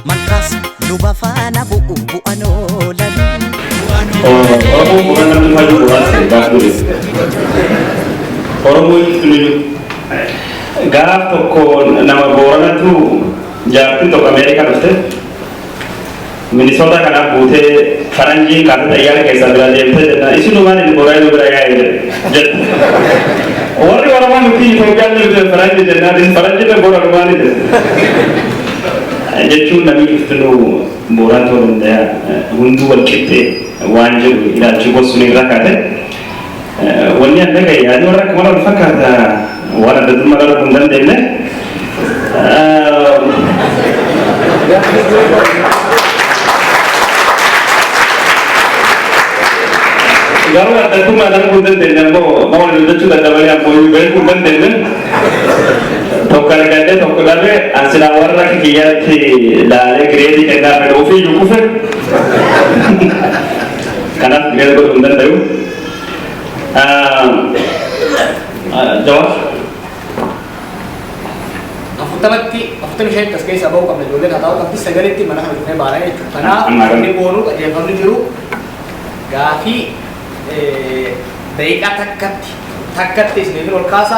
Malkaas luba faana bu'u bu'an oolan. Oromoon boqonnaa dhufaa jiru waan ta'e gaaf dureessa. Oromoon hundinuu gaaf tokko nama booranatu jaartiin tokko Ameerikaa dhufte Minisootaa kanaaf buutee faranjiin kaatee xayyaara keessaa biraa deemtee jennaan isin maal inni booranaa biraa yaa'e jedhe. jedhu warri oromoo nuti Itoophiyaan jirtu faranji jennaanis faranji irra bora dhumaa ni jedhu jechuun namni iftinuu booraa ta'uu danda'a hunduu wal qixxee waan jedhu ilaalchi gosuun irra kaate wanni adda ga'e yaadni warra akka wal fakkaata Waan adda durummaa dhaluu hin dandeenye. Garuu adda durummaa dhaluu hin dandeenye ammoo nama waliin hojjechuu dadhabalee ammoo iyyuu beekuu hin dandeenye. Tokko argadde tokko dhabe ansilaa warra kiyyaatti laalee gireedii kennaa fedha ofii iyyuu kufe. Kanaaf gireedii godhuu hin danda'u. Jawaab. Afurtamatti afurtamii shanitti as keessaa ba'uu qabna ijoolleen haa ta'u qabdi sagalitti mana kana dhufnee baana jechuudha. Kanaaf Amma inni boonu qajeelfamni jiru gaafii daqiiqaa takkatti takkatti isiniif ol kaasa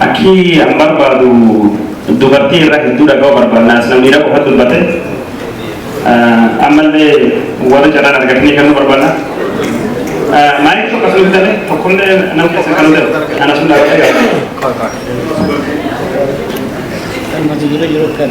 Akki an barbaadu dubartii irra hedduu dhaga'u barbaanna as namni dhaqu kan dubbate ammalle warri carraan argatanii kennuu barbaanna. Maayik tokko sun bitame tokkolle nam keessa kan ta'e ana sun dhaabbatee gaafate. Kan mata duree yeroo kan.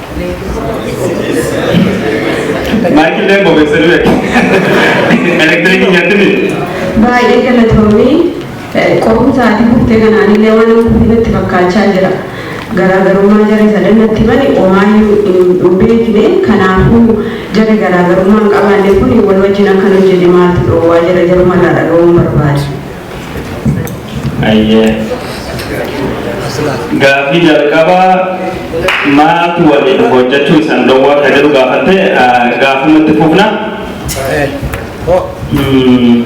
Maayikii illee bobeessanii beeku. Elektirikii nyaatti miti. Baay'ee galatoomii qorumsaatii buftee kanaan illee waan kun natti fakkaachaa jira. Garaagarummaa jarri sadan natti bane omaayyuu hin beekne kanaafuu jarri garaagarummaa hin qabaanne kun wal wajjin akkan hojjenne maaltu dhoowwaa jira jarumarraa dhaga'uun barbaade. Ayyee. Gaaffii jalqabaa maatu waliin hojjechuu isan dhowwa akka jedhu gaafatte gaafuma itti fufna. Mm.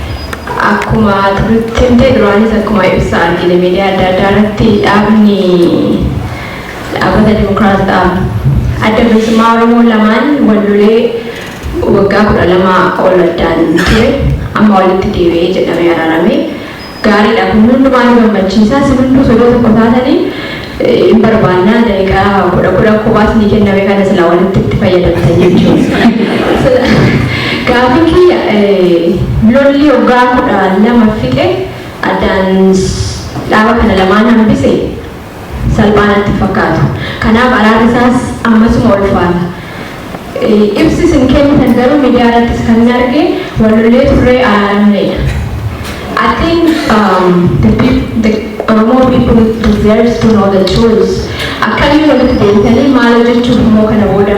Akkuma nutti himte duraanis akkuma ibsa argine miidiyaa adda addaa irratti dhaabni dhaabata Dimokiraas dhaab adda bilisummaa Oromoo lamaan wal lolee waggaa kudha lama ol addaan ture amma walitti deebi'ee jedhamee araarame gaariidha kun hundumaa nu gammachiisa si hunduu sodoo tokko taatanii hin barbaannaa daqiqaa kudha kudha kophaa isinii kenname kana silaa walitti itti fayyadamtan jechuudha. Gaafii kiyya lolli waggaa kudha lama fixe addaan dhaaba kana lamaan hambise salphaa natti fakkaatu. Kanaaf araarri isaas ammasuma ulfaata. Ibsi isin kennitan garuu midiyaa irrattis kanin arge wal lollee turree araaramneedha. I think the peop the Oromoo people deserves to know the truth. Akkamiin walitti deebitanii maal hojjechuuf immoo kana booda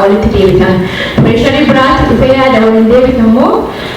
walitti deebitan? Pireesharii biraatti dhufee yaada waliin deebitan moo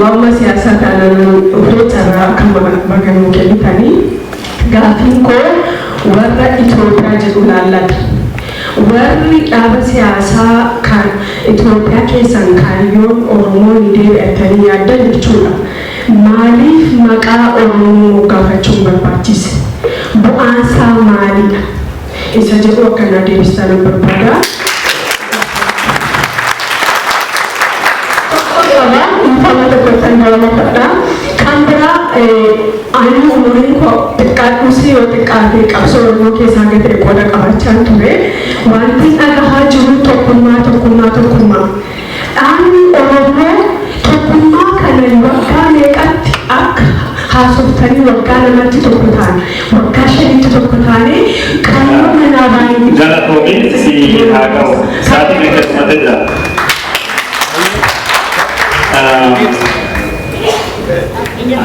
Waanuma siyaasaa taanaan nuun dhufee carraa kanuma baga nuu kennitanii. Gaaffiin koo warra Itoophiyaa jedhu ilaallata. Warri dhaaba siyaasaa kan Itoophiyaa keessaan kaayyoon Oromoo ni deebi'a jettanii yaaddan jechuudha. Maaliif maqaa Oromoo moggaafachuun barbaachise? Bu'aansaa maalidha? isa jedhu akka naa deebistaanan barbaada. Tokkon qaba, dhiifama tokkottan gaafadha. Kan biraa ani umuriin koo xiqqaadhuus yoo xiqqaate qabsoo Oromoo keessaa hanga ta'e qooda qabaachaan ture. Wanti dhagahaa jiru tokkummaa tokkummaa tokkummaa. Dhaabni Oromo tokkummaa kana waggaa meeqatti akka haasoftanii waggaa lamatti tokko taane, waggaa shanitti tokko taane qaamuma manaa baay'ee. Galatoomiin siif haa ga'u. Sa'aatii meeqa dhumatee jira?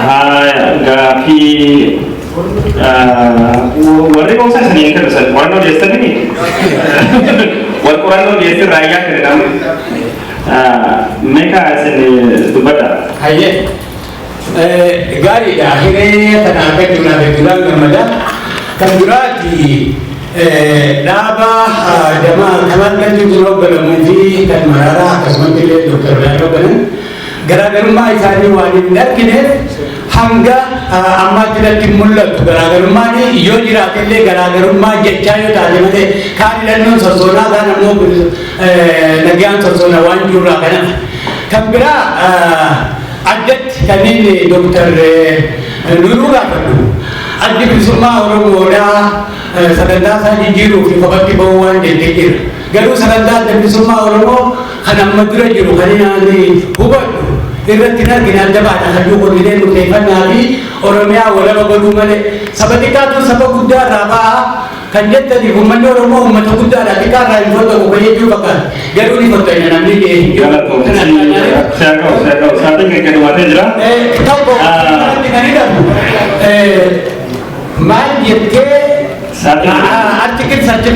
Haaya gaafii Warri boonsaa isin hin kennu san qorannoo dhiyeessanii miti. Wal qorannoo dhiyeessin raayyaa kennu namni. Meeqa isin dubbadha? Hayyee. Gaariidha. Hiree kana akka jiraan hedduudhaan gammada. Kan duraati dhaaba damaa kan akka jiru hogganamu fi kan mararaa akkasumatti illee doktar Birhaan hogganan garaagarummaa isaanii waan hin argineef hanga ammaatti natti hin mul'atu. Garaagarummaan yoo jiraate illee garaagarummaa jechaa yoo taate malee kaan hidhannoon sossoonaa kaan ammoo nagaan sossoona waan jirurraa kanadha. Kan biraa addatti kan inni Dooktar Nuruu gaafadhu addi bilisummaa Oromoodhaa sagantaa isaa jijjiiruuf kophaatti ba'uu waan jette jira. Garuu sagantaa adda bilisummaa Oromoo Kan amma dura jiru kan hin aanne hubadhu. Irratti hin argine adda baadha kan jiru kormilee murteeffannaa fi Oromiyaa walaba godhuu malee. Saba xiqqaatu saba guddaa irraa ba'a kan jettaniif uummanni Oromoo uummata guddaadha xiqqaa irraa hin fottoqu kan jechuu fakkaata. Garuu ni fottoqina namni ga'ee hin jiru. Seekoo seekoo saatiin kan gadhumatee jira. Tokko kanatti kan hidhamu maal jettee Saatiin. artikil 39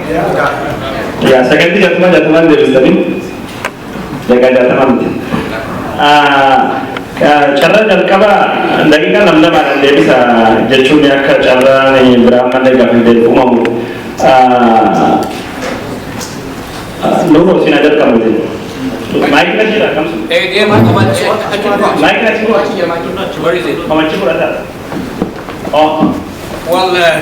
Yaa saganti jatuma jatumaan deebistanii dagaa jatamaa miti. Carraa jalqaba daqiiqaa nam lamaadhaan deebisa jechuun akka carraan biraa malee gaafa deebi uumamu. Nuuroo siin haa jalqabnuti. Maayikii na jira kamsu. Maayikii na jira. Where is it? Mamachi fudhata. Oh. Well, uh,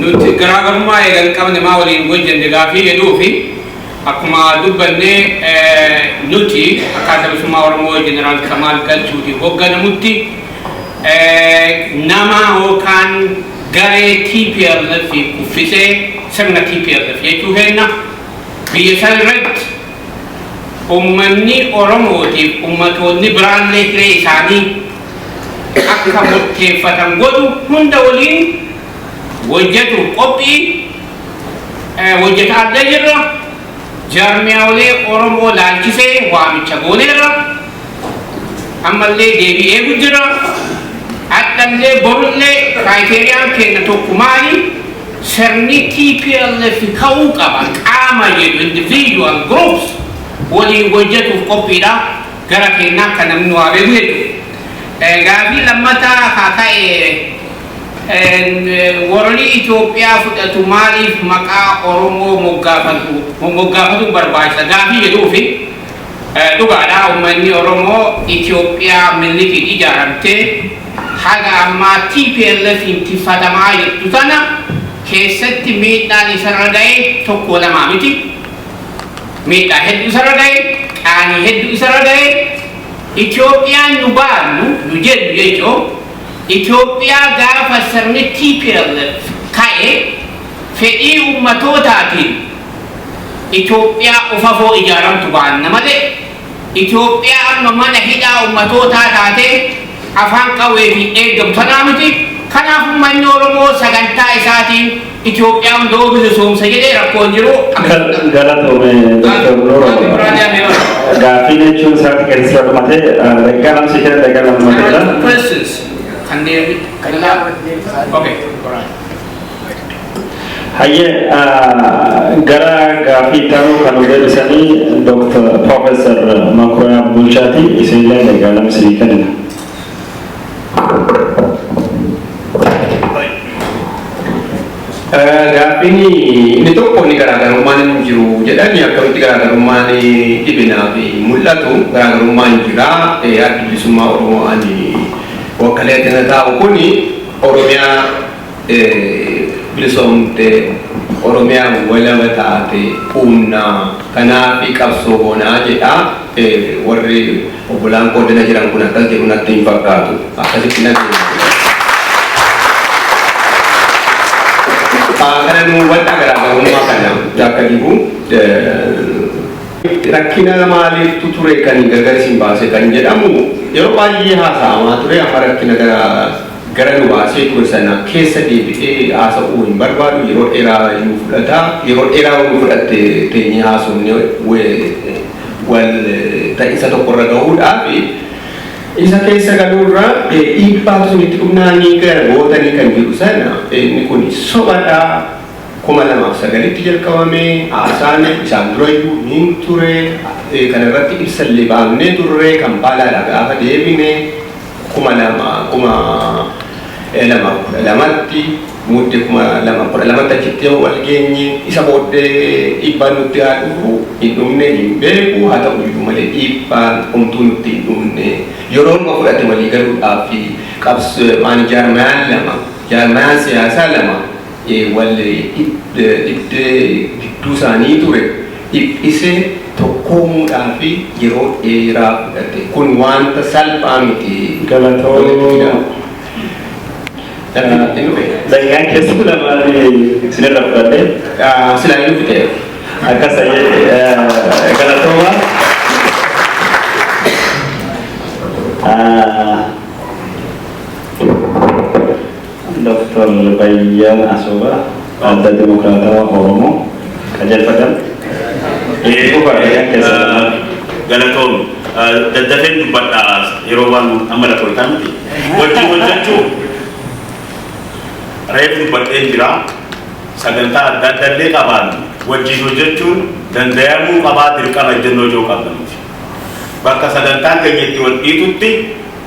nuti garaagarummaa eegan qabne maa waliin hojjenne gaafii jedhuu fi akkuma dubbanne nuti akkaataa bilisummaa Oromoo Jeneraal Kamaal Galchuuti hoogganamutti nama yookaan garee TPLF kuffisee sirna TPLF jechuu keenna biyya san irratti Ummanni Oromootiif ummatoonni biraallee hiree isaanii akka murteeffatan godhu hunda waliin hojjetuuf qophii hojjetaallee jirra. Jaarmiyaalee Oromoo laalchisee waamicha gooneerra. Ammallee deebii eegu jirra. Hadhallee borullee criteriyaan keenna tokko maali? Sirni tplf ka'uu qaba qaama jedhu individual groups waliin hojjatuuf qophiidha. Gara keennaa akka namni nu haa beeku jechuudha. Gaafii lammataa haa ka'e warri Itoophiyaa fudhatu maaliif maqaa Oromoo moggaafatu moggaafatu barbaachisa gaafii jedhuufi. Dhugaadha ummanni Oromoo Itoophiyaa Minilikiin ijaaramte haga ammaa TPLFiin tiffatamaa jirtu tana keessatti miidhaan isarra gaye tokkoo lamaa miti. Miidhaa heddu isarra gaye, qaanii heddu isarra gaye. Itoophiyaan nu baarnu, nu jennu jechuun Itoophiyaa gaafa sirni tplf ka'e fedhii ummatootaatiin Itoophiyaa ufafoo ijaaramtu baanna malee Itoophiyaa amma mana hidhaa ummatootaa taatee afaan qawweetiin eeggamu tanaa miti, kanaaf ummanni Oromoo sagantaa isaatiin Itoophiyaa hunda'uu bilisoomsa jedhee rakkoo hin jiru. Galatoomi Dr. Nuuroo. Gaaffii biraa ni hafe yoo. Gaaffii jechuun isaatti keessaa dhumatee daqiiqaa lama siif kenna daqiiqaa lama dhumatee jira. Questions. Kanneen. Okay. Hayyee gara gaaffii itti aanuu kan nu deebisanii Dr. Professor Makuriyaa Bulchaati. Isinilleen egaa nama isinii kennina. Gaaffiin inni tokko inni garaagarummaan hin jiru jedhani akkamitti garaagarummaan dhibinaa fi mul'atu garaagarummaan jira addi bilisummaa Oromoo ani wakkalee tana taa'u kuni Oromiyaa bilisoomte, Oromiyaa walaba taate uumna, kanaafi qabsoo goona jedha. Warri obbolaan koo dana jiran kun akkas jedhu natti hin fakkaatu. Akkasittin adeema. Kana nuu hubadhaa garaagarummaa kana. Jaakka Dibuu. Rakkinaa maaliiftu ture kan gargar isin baase kan jedhamu yeroo baay'ee haasa'amaa ture amma rakkina gara gara nu baasee ture sana keessa deebi'ee haasa'uu hin barbaadu yeroo dheeraa nu fudhata yeroo dheeraa nu fudhatte teenyee haasofne wal ta'insa tokko irra gahuudhaaf isa keessa galuu irra dhiibbaatu isinitti dhufnaanii gara gootanii kan jedhu sana inni kun sobadha. 2009tti jalqabame, haasaan isaan dura iyyuu hin ture, kana irratti ibsa illee baafnee turre, Kampaalaadhaa gaafa deebine 2012tti, Mudde 2012tti achitti yoo wal geenye, isa booddee dhiibbaan nutti haa dhufu hin dhumne hin beeku, haa ta'u iyyuu malee dhiibbaan homtuu nutti hin dhumne, yeroo numa fudhate walii galuudhaaf fi qabs, maan jaarmayaan lama, jaarmayaan siyaasaa lama, wal dhibdee gidduu isaanii ture dhiphisee tokkoomuudhaaf yeroo dheeraa fudhate. Kun wanta salphaa miti. Galatoomi. Daqiiqaan keessan lamaan isinirraa fudhadhe. Silaa hin dhufte. Akkas ta'ee galatooma. Ah, Doktar Bayyana Asoobaa Adda Dimokiraatawaa Oromoo Qajeelfatan Itti Fufaa Eeyyam Keessan Maali? Galatoomi. Daddafeen dubbadha yeroo waan amma lakkooftaa miti. Wajjin hojjechuu reef dubbadheen jira. Sagantaa adda adda illee qabaannu wajjin hojjechuun dandayamuu qabaa dirqama ejjennoo ijoo qabna nuti. Bakka sagantaan keenya itti wal dhiitutti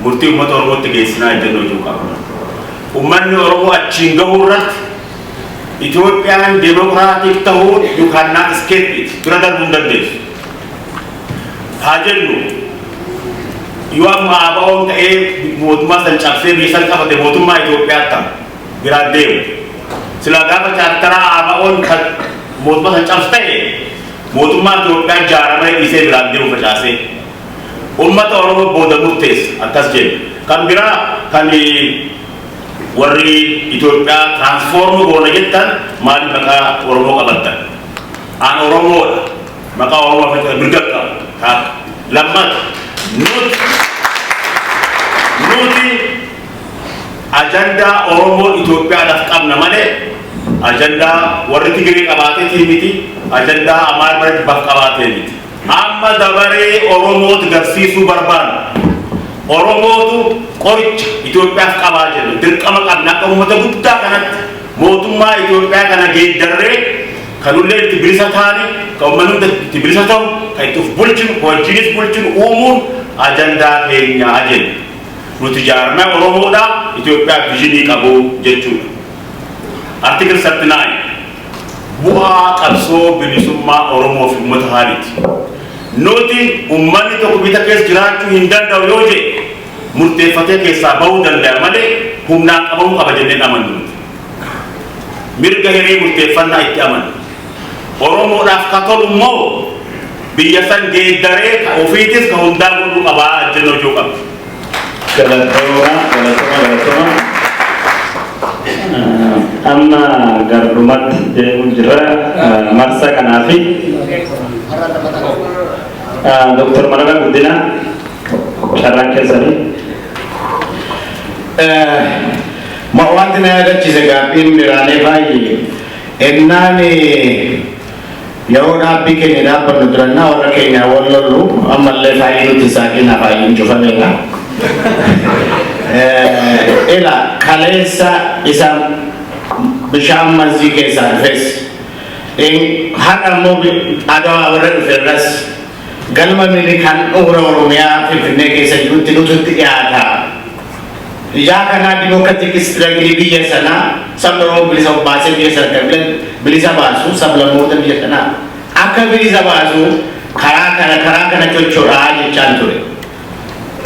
Murtii ummata Oromootti geessinaa ejjennoo jedhu qabna. Ummanni Oromoo achiin gahuu irratti Itoophiyaan Demokraatik tahuun you can not escape it, bira darbuu hin dandeessu. Haa jennu yoo amma ABOn ta'ee mootummaa san cabsee biyya san qabate mootummaa Itoophiyaa attam biraan deemu. Silaa gaafa chaartaraa ABOn kan mootummaa san cabsu ta'e mootummaa Itoophiyaa jaara malee dhiisee biraan deemu facaasee. Ummata Oromoo booda murteessa. Akkas jenna. Kan biraa kan warri Itoophiyaa transform goona jettan maaliif maqaa Oromoo qabattan? An Oromoodha. Maqaa Oromoo fudhachuu mirga qabu. Taak. Lammata nuti nuti ajandaa Oromoo Itoophiyaadhaaf qabna malee ajandaa warri Tigiree qabaateetii miti, ajandaa Amaara Barajibbaaf qabaatee miti. Amma dabaree Oromooti garsiisuu barbaanna. Oromootu qoricha Itoophiyaaf qabaa jenna. Dirqama qabna akka uummata guddaa kanatti mootummaa Itoophiyaa kana geeddarree ka nullee itti bilisa taane, ka uummanni hunda itti bilisa tahu, ka itti uf bulchinu, ka wajjiinis bulchinu uumuun ajandaa keenya jenna. Nuti jaarmaya Oromoodha Itoophiyaaf vizhinii qabu jechuudha. Article 39. Bu'aa qabsoo bilisummaa Oromoo fi ummata haaliiti. Nuti ummanni tokko bita keessa jiraachuu hin danda'u yoo jedhe murteeffatee keessaa bahuu dandaya malee humnaan qabamuu qaba jennee hin amannu nuti. Mirga hiree murteeffannaa itti amanna. Oromoodhaaf ka tolu immoo biyya san geeddaree ka ofiitis ka hundaa godhuu qaba jennee hojjuu qabna. Galatoma galatoma galatoma amma gardumatti deemu jirra marsa kanaafi Dr. Marara Guddina carraan keessanii ma wanti na yaadachiise gaaffiin biraanee baay'ee ennaan Yeroo dhaabbii keenya dhaabbannu durannaa warra keenyaa wal lollu ammallee faayii nutti hin saaqinaa faayiin cufameera. Ila kaleessa isa bishaan manzii keessaa dhufes har'a immoo adawaa warra dhufe irras Galma Minilik handhuura Oromiyaa Finfinnee keessa jirutti nutu itti dhiyaata. Ijaa kanaa Democratic Struggle biyya sanaa sabni Oromoo bilisa of baasee biyya sana akka bila bilisa baasu sablammoota biyya kanaa akka bilisa baasu karaa kana karaa kana chochoraa jechaan ture.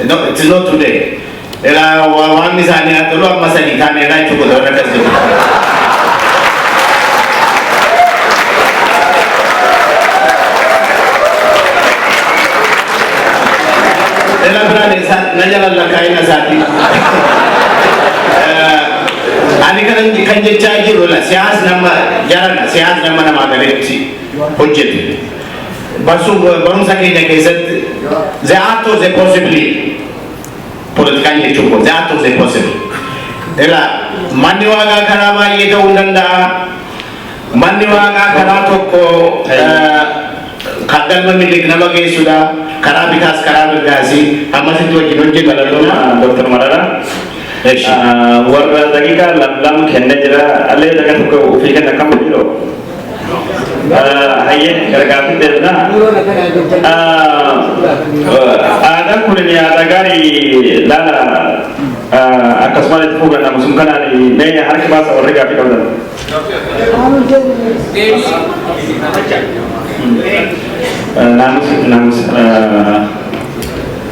No, it is not today. Ela wa- waan isaanii haa tolu amma sadii taane elaa jechuu godha warra akkas jiru. Ela biraan isaa na jalan lakkaa'ina isaatii. Eh, Ani kanan kan jechaa jiru la siyaas nama jarana siyaas nama namaa galeetti hojjetu. barsuuf barumsa keenya keessatti the art of the possible politikaan jechuun kun the art of the possible ila manni waaqaa karaa baay'ee ta'uu hin danda'a manni waaqaa karaa tokko eh, kan galma miliq nama geessudha karaa bitaas karaa mirgaasi ammasitti wajjin hojjeta Galatoomaa Dr. Marara. Eshi. Warra daqiiqaa lam lam kennee jira. Allee daqiiqaa tokko ofii kenna akkam jedhu. Hayyee gargaarsi deemna. Aadaan kun aadaa gaarii laala akkasumas itti fuugan namusun kanaan mee harki baasa warri gaaffii qabdan. Naamus naamus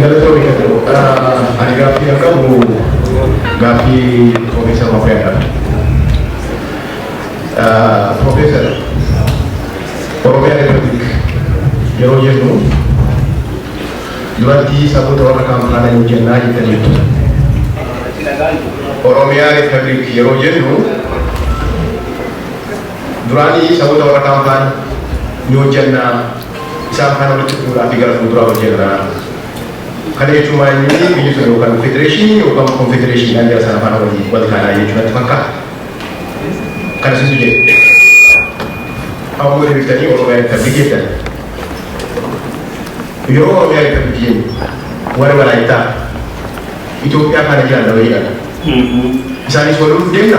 Galatoomi Kadoo. Ani gaaffii kan qabu gaaffii Piroofeesar Mafeedha. Piroofeesar, Oromiyaa Riippabliik yeroo jennu duratti saboota warra kaan faana hin hojjennaa jettaniitu. Oromiyaa Riippabliik yeroo jennu Duraanii saboota warra kaan faana ni hojjanna, isaan faana walitti dhufuudhaa fi gara fuulduraa hojjanna. Kana jechuun maal inni biyyi sun yookaan federeeshinii yookaan konfedereeshinii jara sana faana waliin wal taanaa jechuun natti fakkaata. Kana situ jedhe. Ammoo deebiftanii Oromiyaa Riippabliik jettan. Yeroo Oromiyaa Riippabliik jennu warri Walaayittaa Itoophiyaa faana jiran nama jedhama. Isaanis wal loluuf deemna.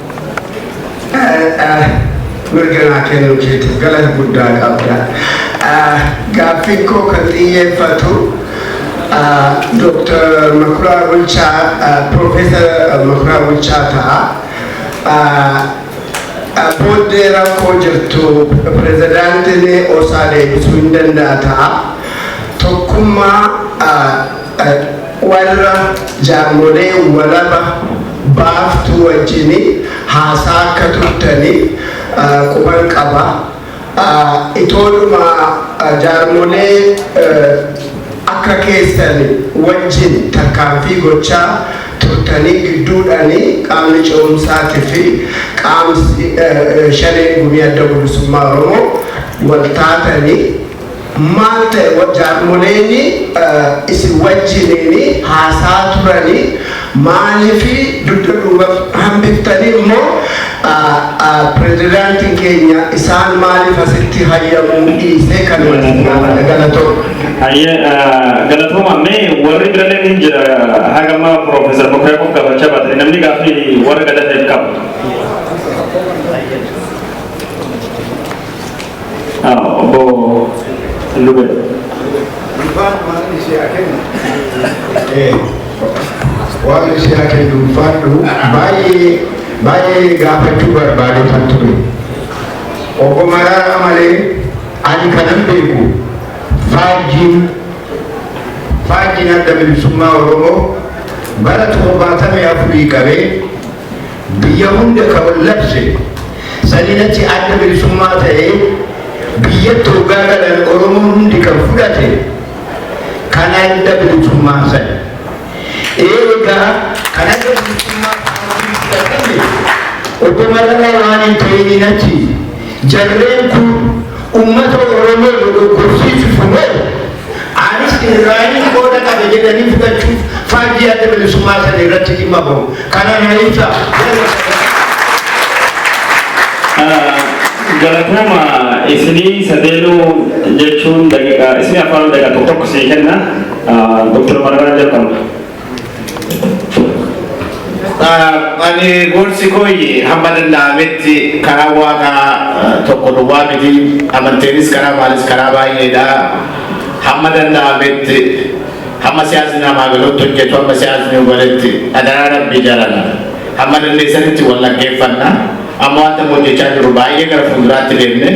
Mirga naa kennuu keetiif galata guddaa qabda. Gaaffiin koo kan xiyyeeffatu Dooktar Makuraa Bulchaa, Piroofeesar Makuraa Bulchaa ta'a. Booddee rakkoo jirtu pirezidaantiin osaa deebisuu hin danda'a ta'a. Tokkummaa Warra jaarmolee walaba baaftuu wajjin haasaa akka turtani quban qaba. Itoodhuma jaarmolee akka keessan wajjin tarkaanfii gochaa turtanii gidduudhani qaamni ce'umsaati fi qaamsi shanee gumii adda bilisummaa Oromoo wal taatani Maal ta'e wa jaarmoleeni isin wajjiniini haasa'a turani maalifi dudda duubaf hambiftani mo prezidaantin keenya isaan maaliif asitti hayyamuu dhiise kanuma jennaa bana galatooma. Hayyee galatooma me warri biraleen hin jira haga amma professor Mokriya qof gafacha baatani namni gaafi warra gada ta'eef qaba. Obbo Lube. Ulfaan waan ishee haa kennu. Waan ishee haa kennu ulfaadhu baay'ee baay'ee gaafachuu barbaadee kan ture. Obbo Maraaraa malee ani kanan beeku faajjiin faajjiin adda bilisummaa Oromoo bara torbaatamii afurii qabee Biyya hunda ka wal labse, saniin achi adda bilisummaa ta'ee biyyatti hoggaa galan Oromoon hundi kan fudhate kan adda bilisummaa san. Eegaa kan adda bilisummaa paartiin fudhatame Obbo Mararaa waan hin ta'iniin achi jarreen kun ummata Oromoo dogoggorsiisuuf moo Anis Israa'eliin qooda qabe jedhanii fudhachuuf faajjii Adda Bilisummaa sana irratti dhimma bahu. Kana na ibsa. Galatooma isinii sadeenuu jechuun daqiiqaa isinii afaan daqiiqaa tokko tokko sii kenna. Doktar Mararaan jalqabna. Ani gorsi kooyyi hamma danda'ametti karaa waaqaa tokko duwwaa miti amanteenis karaa maalis karaa baay'eedha. Hamma danda'ametti hamma siyaasni namaa galutti hojjetu hamma siyaasni hubaletti adaraa rabbii jarana hamma dandeessanitti wal dhaggeeffanna. Amma wanta hojjechaa jiru baay'ee gara fuulduraatti deemne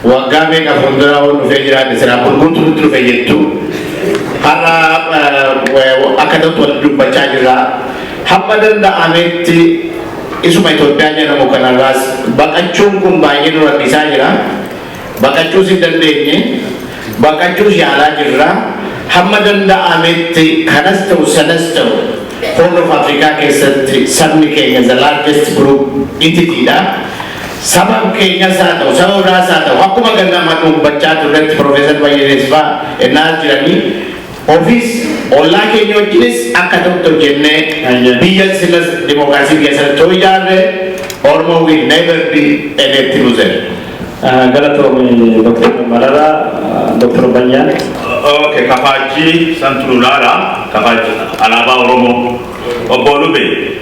Waggaa meeqa fuulduraa hoo dhufee jiraate siraa bulguutu nutti dhufe jettu. Har'a akka ta'utti walitti dubbachaa jirra. Hamma danda'ametti isuma Itoophiyaa jedhamu kanarraas baqachuun kun baay'ee nu rakkisaa jira. Baqachuus hin dandeenye. Baqachuus yaalaa jirra. Hamma danda'ametti kanas ta'u sanas ta'u Horn of Afrikaa keessatti sabni keenya the largest group entity dha. Sabab keenyas haa ta'u, saba biraas haa ta'u, akkuma ganna amma duubbachaa turretti Professor Bayyanees faa ennaa as jiranii, ofis, ollaa keenya wajjinis akka tokko hojjennee biyya silas dimookiraasii keessatti yoo ijaarre Oromo will never be a net loser. Galatoomi Dr. Marara, Dr. Bayyaan. Okay, kafaajjii santu nu laala. Kafaajjii alaabaa Oromoo. Obbo Lubee.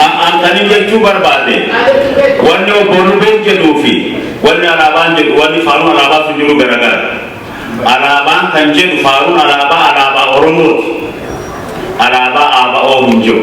Ammaan kanin jechuu barbaade wanni obbo Lubeen jedhuu fi wanni alaabaan jedhu wanni faaruun alaabaa sun jiru garagara. Alaabaan kan jedhu faaruun alaabaa alaabaa Oromooti. Alaabaa ABO hin jiru.